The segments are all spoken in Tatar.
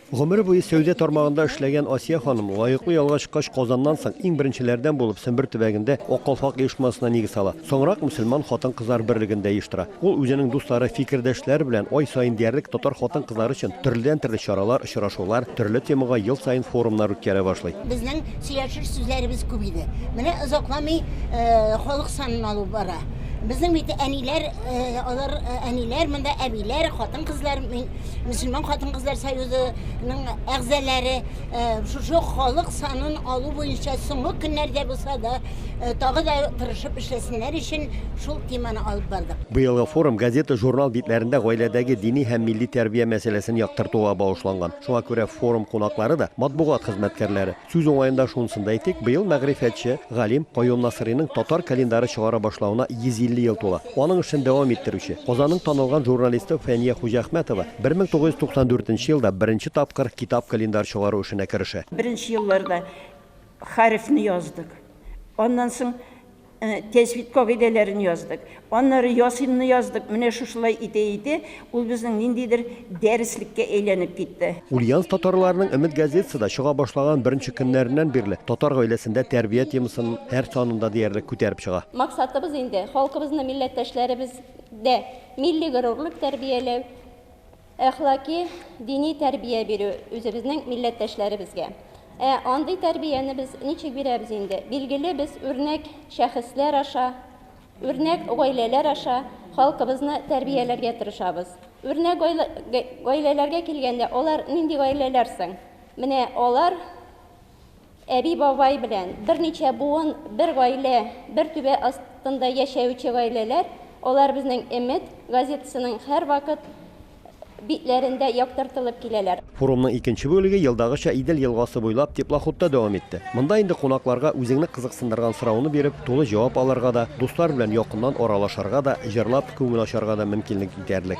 Гомере буе сәүдә тармагында эшләгән Асия ханым, лаеклы ялга чыккач, Казаннан соң иң беренчеләрдән булып Сембер төбәгендә Ак калфак оешмасына нигез сала. Соңрак мөселман хатын-кызлар берлеген дә оештыра. Ул үзенең дуслары, фикердәшләре белән ай саен диярлек татар хатын-кызлары өчен төрледән-төрле чаралар, очрашулар, төрле темага ел саен форумнар үткәрә башлый. Безнең сөйләшер сүзләребез күп иде. Менә озакламый халык санын алу бара. Безнең бит әниләр, алар әниләр, монда әбиләр, хатын-кызлар, мин мөселман хатын-кызлар союзының әгъзалары шушы халык санын алу буенча соңгы көннәрдә булса да тагы да тырышып эшләсеннәр өчен шул теманы алып бардык. Быелгы форум газета-журнал битләрендә гаиләдәге дини һәм милли тәрбия мәсьәләсен яктыртуга багышланган. Шуңа күрә форум кунаклары да, матбугат хезмәткәрләре. Сүз уңаенда шунысын да әйтик, быел мәгърифәтче, галим Каюм Насыйриның татар календары чыгара башлавына 150 ел тула. Аның эшен дәвам иттерүче, Казанның танылган журналисты Фәния Хуҗахмәтова 1994 нче елда беренче тапкыр китап-календарь чыгару эшенә керешә. Беренче елларда хәрефне яздык. Аннан соң Э, тәҗвид кагыйдәләрен яздык аннары ясинны яздык менә шушылай итә итә ул безнең ниндидер дәреслеккә әйләнеп китте ульяновск татарларының өмет газетасы да чыга башлаган беренче көннәреннән бирле татар гаиләсендә тәрбия темасын һәр санында диярлек күтәреп чыга максатыбыз инде халкыбызны милләттәшләребездә милли горурлык тәрбияләү Әхлаки, дини тәрбия бирү үзебезнең милләттәшләребезгә. Ә андый тәрбияне без ничек бирәбез инде? Билгеле, без үрнәк шәхесләр аша, үрнәк гаиләләр аша халкыбызны тәрбияләргә тырышабыз. Үрнәк гаиләләргә килгәндә, алар нинди гаиләләр соң? Менә алар, Әби-бабай белән берничә буын, бер гаилә, бер түбә астында яшәюче гаиләләр, алар безнең Эмет газетасының һәрвакыт битләрендә яктыртылып киләләр. Форумның икенче бүлеге елдагыча Идел елгасы буйлап теплоходта дәвам итте. Монда инде кунакларга үзеңне кызыксындырган сорауны биреп, тулы җавап алырга да, дуслар белән якыннан аралашарга да, җырлап, күңел ачарга да мөмкинлек итәрлек.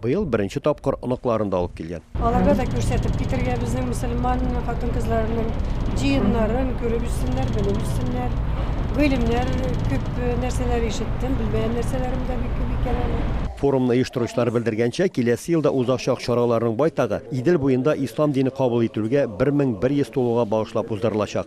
Быел беренче тапкыр оныкларын да алып килгән. Аларга да күрсәтеп китергә, безнең мөселман хатын-кызларының җыеннарын күреп үссеннәр, белеп үссеннәр. Гыйлемнәр, күп нәрсәләр ишеттем, белмәгән нәрсәләрем дә бик күп икән әле. Форумны оештыручылар белдергәнчә, киләсе елда узачак чараларның байтагы Идел буенда ислам дине кабул ителүгә 1100 тулуга багышлап уздырылачак.